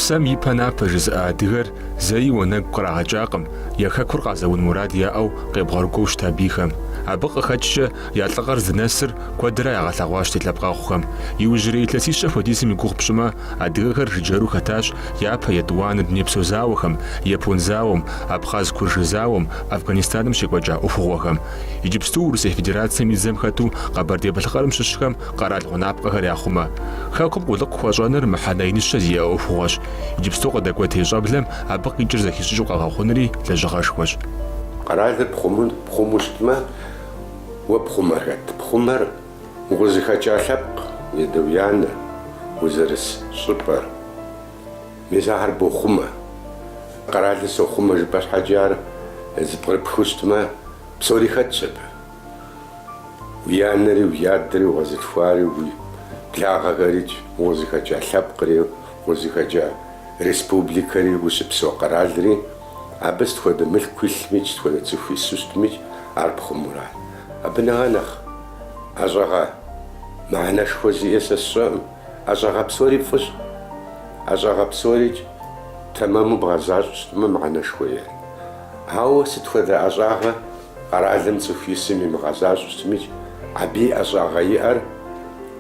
Псэм ипэ напэ жызыӏэ адыгэр зэи уанэгу кърагъэкӏакъым, я хэкур къазэун мурад яӏэу къебгъэрыкӏуэу щыта бийхэм. Абы къыхэкӏкӏэ Я лӏыгъэр зынэсыр куэдрэ ягъэлъэгъуащ ди лъэпкъэгъухэм. Иужьрей илъэсищэ хуэдизым и гугъу пщӏымэ, адыгэхэр жыджэру хэтащ япэ етӏуанэ дунейпсо зауэхэм, япон зауэм, абхъаз-куржы зауэм, Афганистаным щекӏуэкӏа ӏуэхугъуэхэм. Иджыпсту Урысей Федерацэм и дзэм хэту Къэбэрдей-Балъкъэрым щыщхэм къэрал гъунапкъэхэр яхъумэ. Хэкум къулыкъу хуэщӏэныр мыхьэнэ иныщэ зиӏэ ӏуэхугъуэщ. Иджыпсту къыдэкӏуэтей щӏэблэм абы къикӏыр зэхищӏыкӏыу къэгъэхъунри лэжьыгъэшхуэщ. Къэралыр пхъуму щытмэ, Уэ пхъумэр хэт? Пхъумэр, укъызыхэкӏа лъэпкъ, уи адэ, уи анэ, узэрыс щӏыпӏэр. Мис ахэр бохъумэ. Къэралыр сохъумэ жыпӏэ щхьэкӏэ ар зыпкърыпхыу щытмэ, псори хэтщ абы. Уи анэри, уи адэри, укъэзылъхуари, уи благъэхэрикӏ, укъызыхэкӏа лъэпкъри, укъызыхэкӏа республикэри, ущыпсэу къэралри, Абы сыт хуэдэ мылъку илъмикӏ, сыт хуэдэ цӏыху ису щытмикӏ, ар пхъумура? Абы нэгъэ нэхъ ӏэщӏагъэ мыхьэнэшхуэ зиӏэ сэ сщӏэӏым. ӏэщӏагъэ псори фӏыщ. ӏэщӏагъэ псорикӏ тэмэму бгъэзащӏэу щытмэ, мыхьэнэшхуэ иӏэ. Ауэ сыт хуэдэ ӏэщӏагъэ къэралым цӏыху исым имыгъэзащӏэу щытмикӏ, абы и ӏэщӏагъэ иӏэр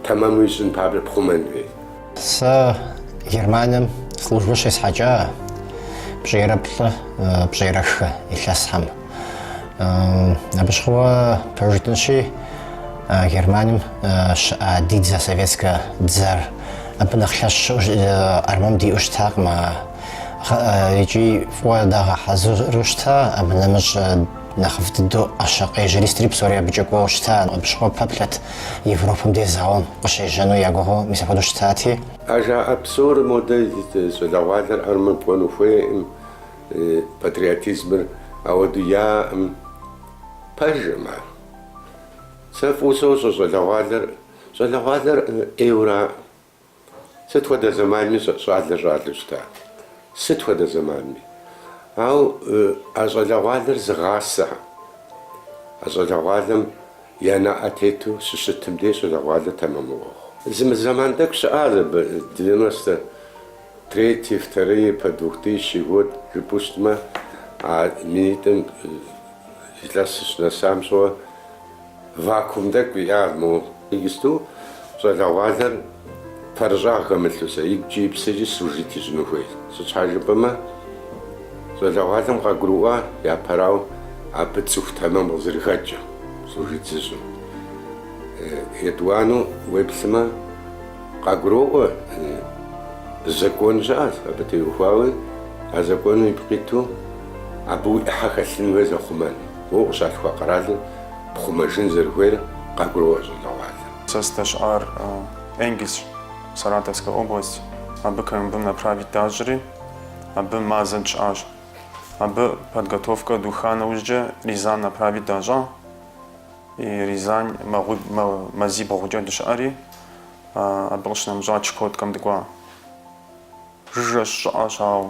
тэмэму ищӏын папщӏэ пхъумэн хуейт. Сэ Германием службэ щесхьэкӏа пщӏейрэ плӏы, пщӏейрэ хы илъэсхэм. Абы щыгъуэ пэж жытӏэнщи, Германием щыӏа ди дзэ советскэ дзэр абы нэхъ лъэщ армэм диӏэу щытакъым икӏи фӏыуэ дагъэхьэзыру щыта абы нэмыщӏ Нэхъыфӏ дыдэу ӏэщэ къежьэри сытри псори абыкӏэ кӏуэу щыта, абы щыгъуэ пэплъэт Европэм дей зауэм къыщежьэну я гугъэу мис апхуэдэу щытати. А жаӏэ псор модэ щӏалэгъуалэр армэ кӏуэну хуейӏым, патриотизмыр ауэду яӏэӏым. Пэжӏым ар. Сэ фӏыуэ сощӏэ щӏалэгъуалэр, щӏалэгъуалэр ӏейуэраӏым. Сыт хуэдэ зэманми щӏалэр щӏалэу щыта. Сыт хуэдэ зэманми. Ауэ а щӏалэгъуалэр зыгъасэхэм а щӏалэгъуалэм я нэӏэ тету щыщытым дей щӏалэгъуалэр тэмэм мэхъу. Зы мы зэман тӏэкӏу щыӏащ абы, девяносто третий, второй по двухтысячный год жыпӏэу щытмэ, а минитӏым илъэсыр щынэсам щыгъуэ. Вакуум тӏэкӏу иӏа мо? Иджысту щӏалэгъуалэр пэрыщӏагъ хэмылъу сэ игукӏи и псэкӏи служит ищӏыну хуейт. Сыт щхьэ жыпӏэмэ, щӏалэгъуалэм къагурыӏуа япэрауэ абы цӏыху тэмэм къызэрыхэкӏыр служит зыщӏым. Етӏуанэу уеплъмэ, къагуроӏуэ закон щыӏэщ абы теухуауи, а законым ипкъ иту абы уи ӏыхьэ хэлъын хуей зэхъумэн. Уэ укъыщалъхуа къэралыр пхъумэжын зэрыхуейр къагуроӏуэ щӏалэгъуалэм. Сэ сыдэщыӏар Энгельс, Саратовскэ область. Абы КМБ-м направить дащӏри, абы мазэ дыщыӏащ. Абы подготовкэ духа нэужькӏэ Рязань направить дащӏа. И Рязань мазибгъукӏэ дыщыӏэри, абы къыщынэмыщӏа Чукоткэм дыкӏуа. Жыжьэщ, щӏыӏэщ, ауэ.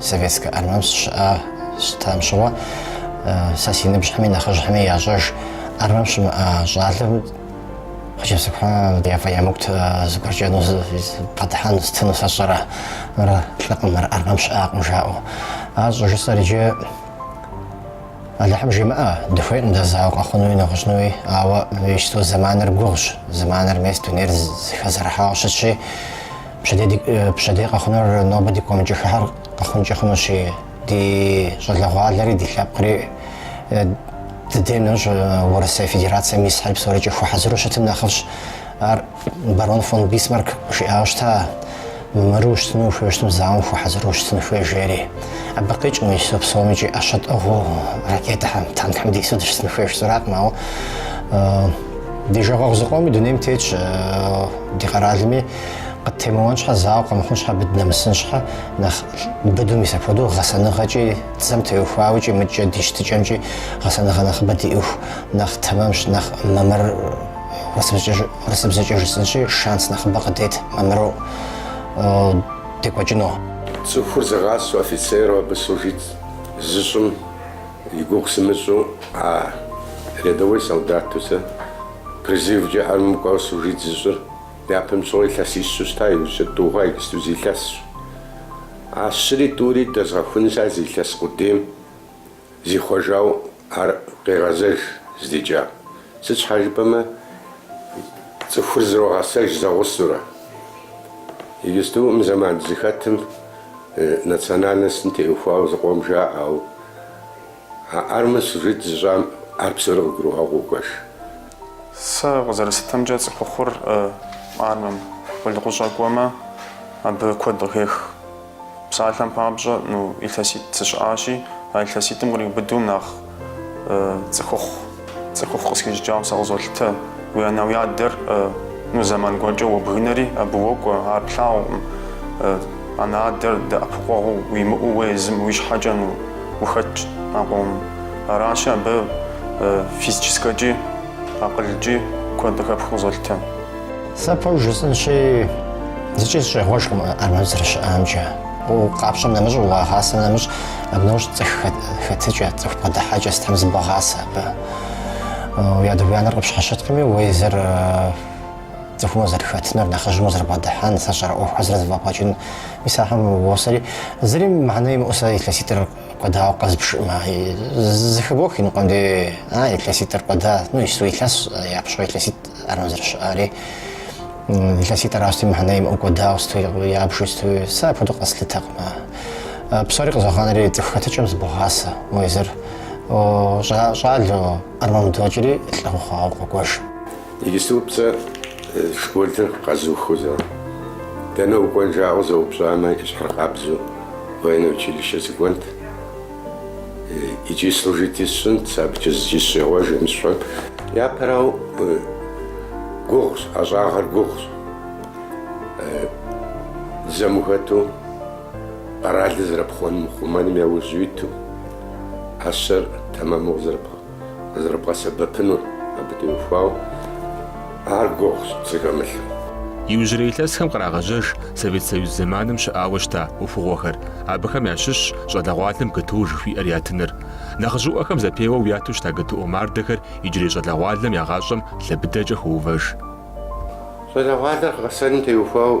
Советскэ армэм сыщыӏэ щытам щыгъуэ сэ си ныбжьхэми нэхъыжьхэми ящӏэж армэм щымыӏа щӏалэм хъыджэбзыпхъэм яфӏэемыкӏут зыгуэркӏэ ну бгъэдыхьэн сытыну сэ сщӏэрэ мыр лӏыкъым мыр армэм щыӏакъым жаӏэу ар щӏыжысӏэр иджы Алыхьым жимыӏэ дыхуейкъым дэ зауэ къэхъунуи нэгъуэщӏынуи ауэ иджысту зэманыр гугъущ зэманыр мес дунейр зыхэзэрыхьауэ щытщи Пщэдей къэхъунур нобэ ди гу къэмыкӏыххэр къэхъункӏэ хъунущи, ди щӏалэгъуалэри ди лъэпкъри дыдейм нэужь Урысей Федерацэм исхэри псорикӏи хуэхьэзыру щытым нэхъыфӏщ. Ар барон фон Бисмарк жиӏауэ щыта, Мамыру щытыну ухуейуэ щытым, зауэм хуэхьэзыру щытын хуей, жери. Абы къикӏ мыщэу псомикӏи ӏэщэ тӏыгъыу ракетэхэм, танкхэм дису дыщытын хуей жысӏэракъым, ауэ ди жагъуэгъу зыкъоми дунейм тетщ, ди къэралми Къыттемыуэн щхьэ зауэ къэмыхъун щхьэ абы дынэмысын щхьэ нэхъ быду мис апхуэдэу гъэсэныгъэкӏи дзэм теухуауикӏи мыкӏэ ди щытыкӏэмкӏи гъэсэныгъэ нэхъыбэ диӏыху нэхъ тэмэмщ нэхъ мамыр урысыбзэкӏэ жысӏынщи шанс нэхъыбэ къыдет мамыру декӏуэкӏыну. Цӏыхур зыгъасэу офицеру абы служит зыщӏым и гугъу сымыщӏу а рядовой солдату сэ призывкӏэ армым кӏуауэ служит зыщӏыр Япэм щыгъуэ илъэсищу щыта иужькӏэ тӏу хъуа иджысту зы илъэсщ. А щыри тӏури дэзгъэхунщ а зы илъэс къудейм зихъуэжау ар къегъэзэж здикӏа. Сыт щхьэ жыпӏэмэ цӏыхур зэрогъэсэж зэгъусэурэ. Иджысту мы зэман дызыхэтым национальностым теухуау зыкъом жаӏэ, ау. А армэ служит зыщӏам ар псори къыгурыӏуагъэу кӏуэж. Сэ къызэрыслъытэмкӏэ цӏыхухъур армэм къулыкъущӏэ кӏуэмэ абы куэд къыхех. Псалъэм папщӏэ ну илъэситӏ сыщыӏащи, а илъэситӏым къриубыдэу нэхъ цӏыхухъу. Цӏыхухъу къысхищӏыкӏауэ сэ къызолъытэ. Уи анэ-уи адэр, ну, зэман гуэркӏэ уобгынэри, абы уокӏуэ, ар плъагъукъым. Анэ-адэр дэӏэпыкъуэгъуу уимыӏэу уэ езым уи щхьэкӏэ, ну, ухэтщ а къомым. Аращи, абы физическэкӏи, акъылкӏи куэд къыхэпхыу къызолъытэ. Сэ пэжу жысӏынщи, зыкӏи сыщӏегъуэжкъым армэм сызэрыщыӏамкӏэ. Къэпщӏэм нэмыщӏ, уагъасэм нэмыщӏ, абы нэужь цӏыху хэтыкӏэ, цӏыху бгъэдыхьэкӏэ сытхэм зыбогъасэ абы. Уи адэ-уи анэр къыпщхьэщыткъыми, уэ езыр цӏыхумэ узэрыхэтыныр, нэхъыжьымэ узэрыбгъэдыхьэн, сэ сщӏэрэ, ӏуэхухэр зэрызэфӏэбгъэкӏын, мис ахэм уосэри, зыри мыхьэнэ имыӏэу сэ илъэситӏыр кӏуэдауэ къэзбжкъым, зэхыбох иныкъуэм дей, а, илъэситӏыр кӏуэда, ну, иджыпсту илъэсщ, япэм щыгъуэ илъэситӏ. Армэм зэрыщыӏар илъэситӏ аращти мыхьэнэ имыӏэу кӏуэдауэ сыту ябжу сыту сэ апхуэдэу къэслъытэкъым. Псори къызогъанэри цӏыху хэтыкӏэм зыбогъасэ. Уэ езыр щӏалэу армэм удокӏри лӏы ухъуауэ укъокӏуэж. Иджыпсту сэ школыр къэзухыу сэ, дэнэ укӏуэн жаӏэу къызэупщӏамэ, и щхьэр къабзэу военное училище сыкӏуэнт. Иджы служить сщӏынт, абыкӏэ зыкӏи сыщӏегъуэжкъым щхьэ, япэрауэ гугъущ, ӏэщӏагъэр гугъущ. Дзэм ухэту, къэралыр зэрыпхъумэным, хъумэным яужь уиту, ӏэщэр тэмэму къызэрыпхъу. къызэрыбгъэсэбэпынур абы теухуауэ ар гугъущ зыхэмылъу. Иужьрей илъэсхэм кърагъэжьэж Совет Союз зэманым щыӏауэ щыта ӏуэхугъуэхэр, абыхэм ящыщщ щӏалэгъуалэм ГТО жыхуиӏэр ятыныр. Нэхъыжьыӏуэхэм зэпеуэу яту щыта ГТО мардэхэр иджырей щӏалэгъуалэм я гъащӏэм лъэбыдэкӏэ хоувэж. Щӏалэгъуалэр гъэсэным теухуауэ.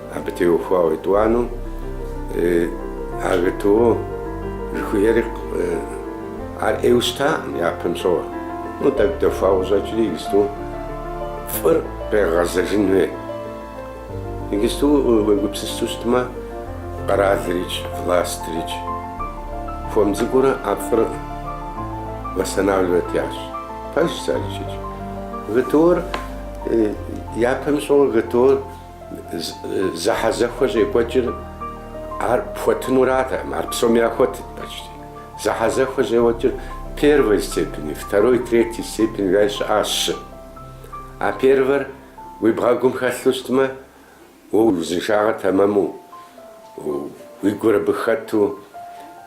Абы теухуауэ етӏуанэу а ГТО жыхуиӏэри ар ӏейуэ щытакъым япэм щыгъуэ. Ну, тӏэкӏу дэхуауэ къыщӏэкӏри иджыпсту фӏыр къегъэзэжын хуей. Иджыпсту уегупсысу щытмэ, къэралрикӏ, властырикӏ хуэм цӏыкӏуурэ а фӏыр восстанавливать ящӏ. Пэжщ арикӏ. ГТО-р япэм щыгъуэ ГТО-р. Зэхьэзэхуэ щӏекӏуэкӏыр ар пхуэтынуратэкъым, ар псоми яхуэтырт почти. Зэхьэзэхуэ щӏекӏуэкӏыр первой степени, второй, третий степени жаӏи щыӏащи. А первэр уи бгъэгум хэлъу щытмэ, уэ уи узыншагъэр тэмэму, уи гур абы хэту,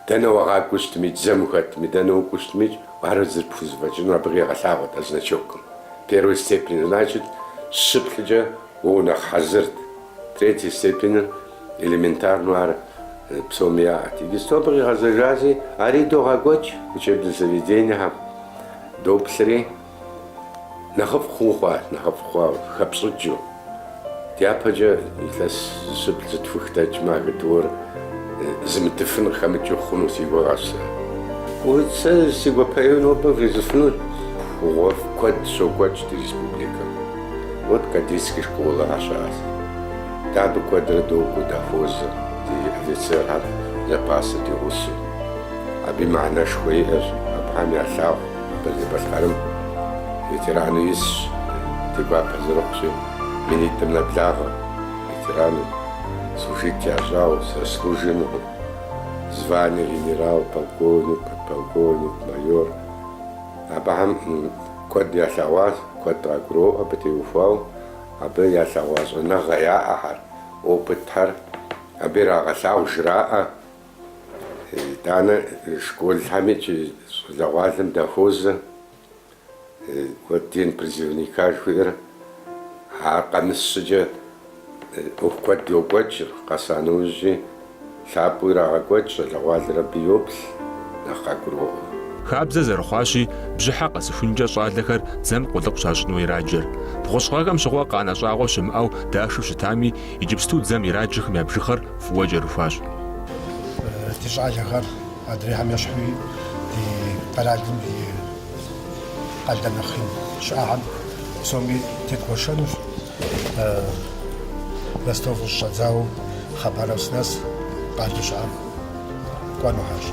дэнэ уагъакӏуэу щытмикӏ, дзэм ухэтми, дэнэ укӏуэу щытмикӏ, ар зэрыпхузэфӏэкӏынур абы къигъэлъагъуэт а значокым. Первой степени, значит, щы плӏыкӏэ Уэ нэхъ хьэзырт. Третьей степеныр элементарнэу ар псоми яӏэт. Иджыпсту абы къигъэзэжащи, ари идогъэкӏуэкӏ учебнэ заведениехэм, доплъри, нэхъыфӏ хъуу хъуа, нэхъыфӏ хъуа хэпщӏыкӏыу. Дяпэкӏэ илъэс зыщыплӏ, зытхух дэкӏмэ, а ГТО-р зымытыфын къыхэмыкӏыу хъуну си гугъэщ сэ. Сэ си гуапэу нобэ вжесӏэфыну ӏуэхугъуэфӏ куэд щокӏуэкӏ ди республикэм. Вот кадетский школэ ар щыӏэщ. Дэ абы куэдрэ докӏуэ, дахуозэ, ди офицерхэр запаса ди гъусэу. Абы и мыхьэнэшхуэ иӏэщ, абыхэм ялъагъу Къэбэрдей-Балъкъэрым ветерану исщ, ди гуапэ зэрыхъущи, минитӏым нэблагъэ, ветерану, служить ящӏауэ, заслуженнэхэу, звание генерал, полковник, подполковник, майор. Абыхэм. Куэд ялъэгъуащ, куэд къагуроӏуэ абы теухуауэ, абы ялъэгъуа щӏэныгъэ яӏэхэр, опытхэр абы ирагъэлъагъу жраӏэ. Итӏанэ школхэми икӏи щӏалэгъуалэм дахуозэ куэд День призывника жыхуиӏэр, ар къэмыс щӏыкӏэ. ӏуэху куэд йокӏуэкӏ, къэса нэужьи лъапӏэу ирагъэкӏуэкӏ, щӏалэгъуалэр абы йоплъ, нэхъ къагуроӏуэ. Хабзэ зэрыхъуащи, бжьыхьэ къэсыхункӏэ щӏалэхэр дзэм къулыкъу щащӏыну ираджэр. Бгъущӏ гъэхэм щыгъуэ къанэ щӏагъуэ щымыӏэу дашэу щытами, иджыпсту дзэм ираджэхэм я бжыгъэр фӏыуэ кӏэрыхуащ. Ди щӏалэхэр адрейхэм ещхьу, ди къэралым и къалэ нэхъ ин щыӏэхэм псоми тедгуэшэнущ. Ростов щыщӏэдзауэ Хабаровск нэс къалэу щыӏэм кӏуэнухьэщ.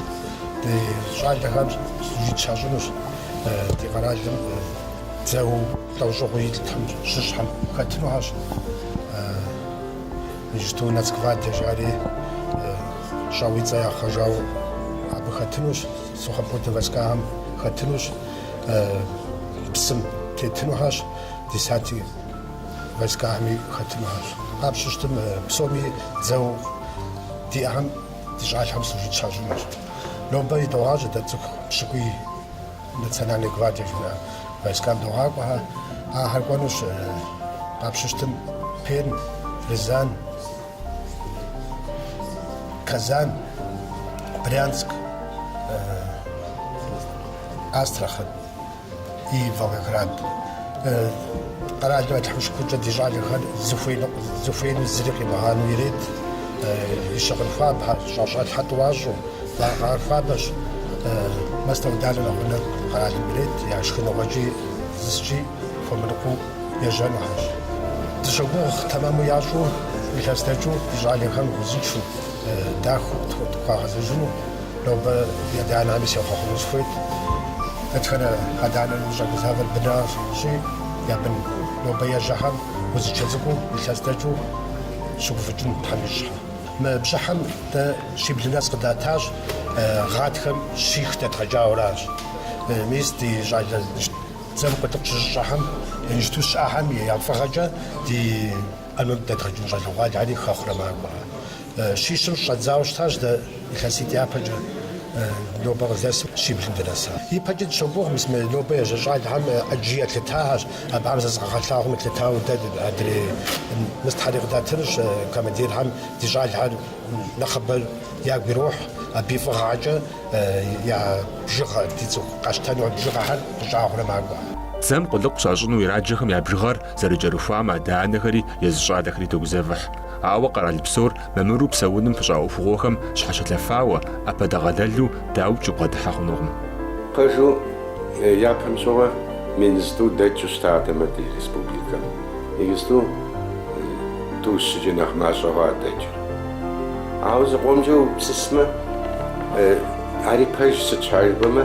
Ди щӏалэхэм служить щащӏынущ ди къэралым дзэу лӏэужьыгъуэу иӏэхэм щыщхьэм хэтынухьэщ. Иджыпсту Нацгвардие жаӏэри щӏэуэ и цӏэ яхъуэжауэ абы хэтынущ, сухопутнэ войскахэм хэтынущ, псым тетынухьэщ. десантнэ войскахэми хэтынухэщ. Къапщыщтым псоми дзэу диӏэхэм ди щӏалэхэм служить щащӏынущ. Нобэ идогъажьэ дэ цӏыху пщыкӏуий Национальной гвардие жыхуиӏэ войскам догъакӏуэхэр. Ахэр кӏуэнущ къапщыщтым Пермь, Рязань, Казань, Брянск, Астрахань. и Волгоград къэралым Алыхь шыкуркӏэ ди щӏалэхэр зыхуеину зыри къимыгъанэу ирет, и щыгъын хуабэ, щӏэщӏалъхьэ тӏуащӏэу, вакъэхэр хуабэщ. Мастэ-ӏуданэ нэгъунэ къэралым ирет, я шхыныгъуэкӏи зыскӏи хуэмырыкъуу ежьэнухэщ. Дыщогугъ тэмэму ящӏу, илъэс дэкӏыу ди щӏалэхэм узыншэу, дахэу тхуагъэзэжыну. Нобэ адэ-анэхэми сехъуэхъуну сыхуейт. Дэтхэнэ адэ-анэм щӏэгузавэр бынащи, я бын нобэ ежьэхэм узыншэ цӏыкӏуу илъэс дэкӏыу щыгуфӏыкӏын Тхьэм ищӏхэ. Мы бжьыхьэм дэ щиблым нэс къыдатащ, гъатхэм щих дэдгъэкӏауэращ. Мис ди щӏалэ дзэм къулыкъу щызыщӏэхэм, иджыпсту щыӏэхэм я фӏыгъэкӏэ ди армэм дэдгъэкӏыну щӏалэгъуалэри хэхъурэ макӏуэ. Щищым щӏэдзауэ щытащ дэ илъэситӏ япэкӏэ нобэ къыздэсым щиблым дынэса. Ипэкӏи дыщогугъ, мис мы нобэ ежьэ щӏалэхэм ӏэджи елъытащ, абыхэм зэрызыкъагъэлъагъуэм елъытауэ дэ адрей местэхэри къыдатынущ, командирхэм ди щӏалэхэр нэхъыбэр ягу ирохь абы и фӏыгъэкӏэ я бжыгъэ, ди цӏыху къащтэну а бжыгъэхэр къыщӏагъурэ макӏуэ. Дзэм къулыкъу щащӏыну ираджэхэм я бжыгъэр зэрыкӏэрыхуам, адэ-анэхэри, езы щӏалэхэри тогузэвыхь. Ауэ къэрал псор мамыру псэуным пыщӏа ӏуэхугъуэхэм щхьэщылъэфауэ, ӏэпэдэгъэлэлу дауикӏ убгъэдыхьэ хъунукъым. Пэжу, япэм щыгъуэ мин зытӏу дэкӏыу щытатэмэ ди республикэм, иджысту тӏу-щыкӏэ нэхъ мащӏэ хъуа дэкӏыр. Ауэ зыкъомкӏэ упсысмэ, ари пэж сыт щхьэ жыпӏэмэ,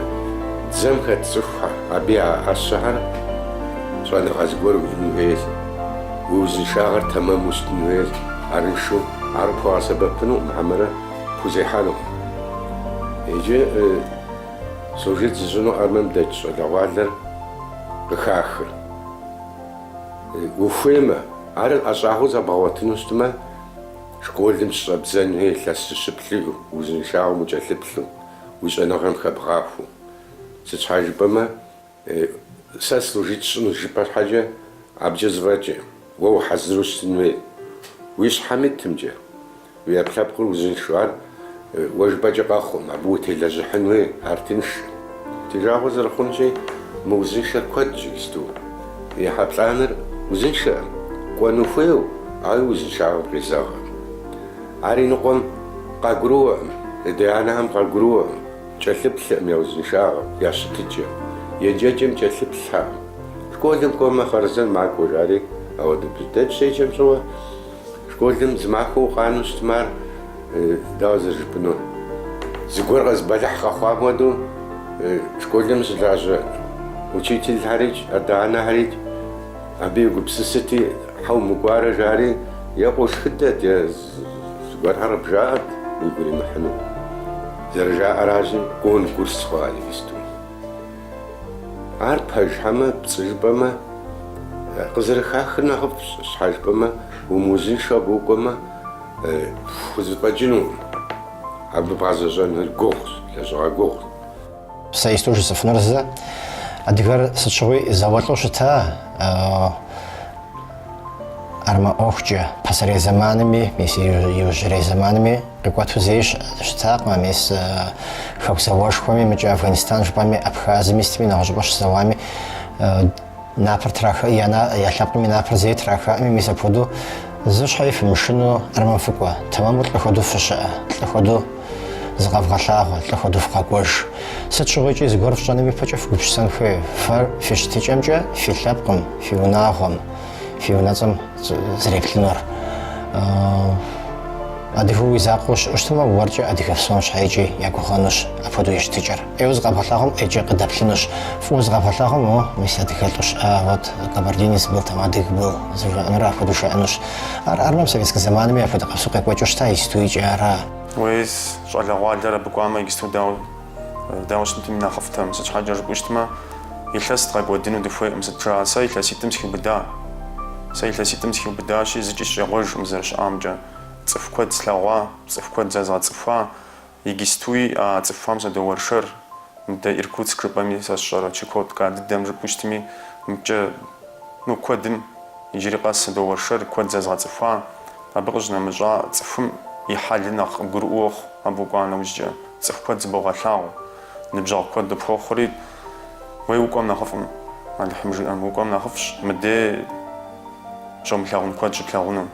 дзэм хэт цӏыхухэр, абы я ӏэщэхэр щӏэныгъэ зыгуэр уиӏэн хуейщ. Уи узыншагъэр тэмэму щытын хуейщ, арыншэу, ар къыпхуэгъэсэбэпынукъым хьэмэрэ пхузехьэнукъым. Иджы служить зыщӏыну армэм дэкӏ щӏалэгъуалэр къыхахыр. Ухуеймэ, ар ӏэщӏагъэу зэбгъэгъуэтыну щытмэ, школым щыщӏэбдзэн хуей илъэс зыщыплӏ иӏэу узыншагъэм укӏэлъыплъу, уи щӏэныгъэм хэбгъахуэу. Сыт щхьэ жыпӏэмэ, Сэ служить сщӏынущ жыпӏэ щхьэкӏэ абыкӏэ зэфӏэкӏрэ, уэ ухьэзыру щытын хуей. Уи щхьэм итымкӏэ, уи ӏэпкълъэпкъыр узыншэу, ар уэ жыпӏэкӏэ къэхъукъым, абы утелэжьыхьын хуей, ар тынш. Ди жагъуэ зэрыхъунщи, мыузыншэр куэдщ иджысту. ӏыхьэ плӏанэр узыншэкъым, кӏуэну хуейуэ, ауэ и узыншагъэм къезэгърэ. Ар и ныкъуэм къагурыӏуэкъым, ди анэхэм къагурыӏуэкъым. Кӏэлъыплъкъым я узыншагъэм, я щытыкӏэм, еджэкӏэм кӏэлъыплъхьэкъым. Школым кӏуэмэ, хъарзэн макӏуэ, жари, ауэ дэ дыщеджэм щыгъуэ, школым зы махуэ укъанэу щытмэ, ар дауэ зэрыжыпӏэну, зыгуэр къэ, зы бэлыхь къэхъуам хуэдэу, школым щылажьэ учительхьэрикӏ, адэ-анэхьэрикӏ абы егупсысырти, щхьэ умыкӏуарэ, жари, е къошхыдэт, е. Зыгуэрхэр къыбжаӏэрт уигу иримыхьыну, зэрыжаӏэращи, конкурс хъуа игисту. Ар пэж хьэмэ пцӏы жыпӏэмэ, къызэрыхахыр нэхъыфӏщ, щхьэ жыпӏэмэ, умыузыншэу абы укӏуэмэ, пхузэфӏэкӏынукъым, абы бгъэзэщӏэныр гугъущ, лэжьыгъэ гугъущ. Сэ исту жысыфынур зы, адыгэр сыт щыгъуи зауэлӏу щыта, армэ ӏуэхукӏэ пасэрей зэманми, мис иужьрей зэманми къикӏуэту зэи щытакъым, мис хэку зауэшхуэми, мыкӏэ Афганистан жыпӏэми, Абхазми, сытми нэгъуэщӏыпӏэ щызэуами, Напэр траха, я лъэпкъым и напэр зэи трахакъыми, мис апхуэдэу зы щхьэи фымышыну армэм фыкӏуэ. Тэмэму лӏы хуэдэу фыщыӏэ, лӏы хуэдэу зыкъэвгъэлъагъуэ, лӏы хуэдэу фыкъэкӏуэж. Сыт щыгъуикӏи зыгуэр фщӏэным ипэкӏэ фыгупсысэн хуей, фэр фи щытыкӏэмкӏэ, фи лъэпкъым, фи унагъуэм, фи унэцӏэм зэреплъынур. Адыгэу уи закъуэу ущыӏэу щытмэ, уэркӏэ адыгэ псом щхьэикӏи ягугъэнущ апхуэдэу и щытыкӏэр. Ӏейуэ зыкъэбгъэлъагъуэм ӏейкӏэ къыдэплъынущ. Фӏыуэ зыкъэбгъэлъагъуэм, о, мис адыгэлӏу щыӏа, вот, кабардинец был там адыг был, зыжраӏэнур апхуэдэу жаӏэнущ. Ар армэм советскэ зэманми апхуэдэ къабзэу къекӏуэкӏыу щыта, истуикӏи ара. Уей, щӏалэгъуалэр абы кӏуамэ, игисту дауэ щытми нэхъыфӏтэм, сыт щхьэкӏэ жыпӏэу щытмэ, илъэс дгъэкӏуэдыну дыхуейкъым, сыт жаӏэ, сэ илъэситӏым схиубыда. Сэ илъэситӏым схиубыдащи, зыкӏи сыщӏегъуэжкъым зэрыщыӏамкӏэ. Цӏыху куэд слъэгъуа, цӏыху куэд зэзгъэцӏыхуа, Игистуи а цӏыхухэм садоуэршэр, мыдэ Иркутск жыпӏэми сэ сщӏэрэ, Чукотка дыдэм жыпӏэу щытми, мыкӏэ, ну, куэдым, иджыри къэс садоуэршэр, куэд зэзгъэцӏыхуа, абы къыщынэмыщӏа цӏыхум и хьэлыр нэхъ къыбгурыӏуэу мэхъу, абы укӏуа нэужькӏэ, цӏыху куэд зыбогъэлъагъу, ныбжьэгъу куэд къыпхуэхъури, уей укӏуэм нэхъыфӏым, Алыхьым жиӏэм, укӏуэм нэхъыфӏщ, мыдей щомылъагъун куэд щыплъагъуну.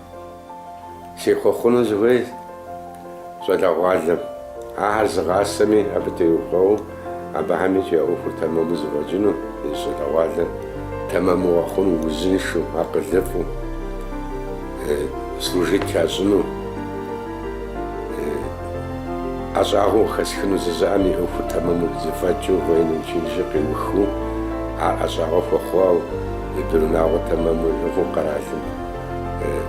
Сехъуэхъуну сыхуей щӏалэгъуалэм. Ахэр зыгъасэми, абы теухуэу абыхэми я ӏуэхур тэмэму зэфӏэкӏыну, езы щӏалэгъуалэр тэмэму къэхъуну, узыншэу, акъылыфӏу, служить ящӏыну, ӏэщӏагъэу къыхэсхыну жызыӏэм и ӏуэхур тэмэму зэфӏэкӏыу, военнэ училищыр къиухыу, ар ӏэщӏагъэ хуэхъуауэ, и бынунагъуэ тэмэму иӏыгъыу къэралым.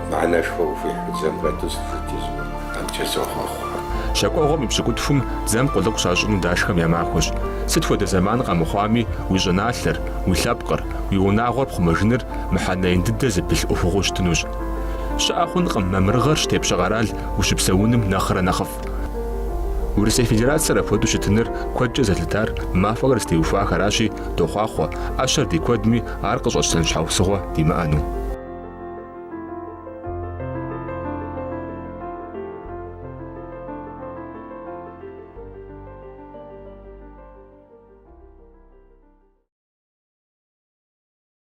мыхьэнэшхуэ къыхуихьу дзэм хэту служить ищӏыну, амкӏэ сохъуэхъу. Щэкӏуэгъуэм и пщыкӏутхум дзэм къулыкъу щащӏыну дашхэм я махуэщ. Сыт хуэдэ зэман къэмыхъуами, уи щӏыналъэр, уи лъэпкъыр, уи унагъуэр пхъумэжыныр мыхьэнэ ин дыдэ зыпылъ ӏуэхугъуэу щытынущ. Щыӏэ хъункъым мамырыгъэр щытепщэ къэрал ущыпсэуным нэхърэ нэхъыфӏ. Урысей Федерацэр апхуэдэу щытыныр куэдкӏэ зэлъытар мэфэкӏхэр зытеухуахэращи, дохъуахъуэ, ӏэщэр ди куэдми Ар къыщӏэтщтэн щхьэусыгъуэ димыӏэну.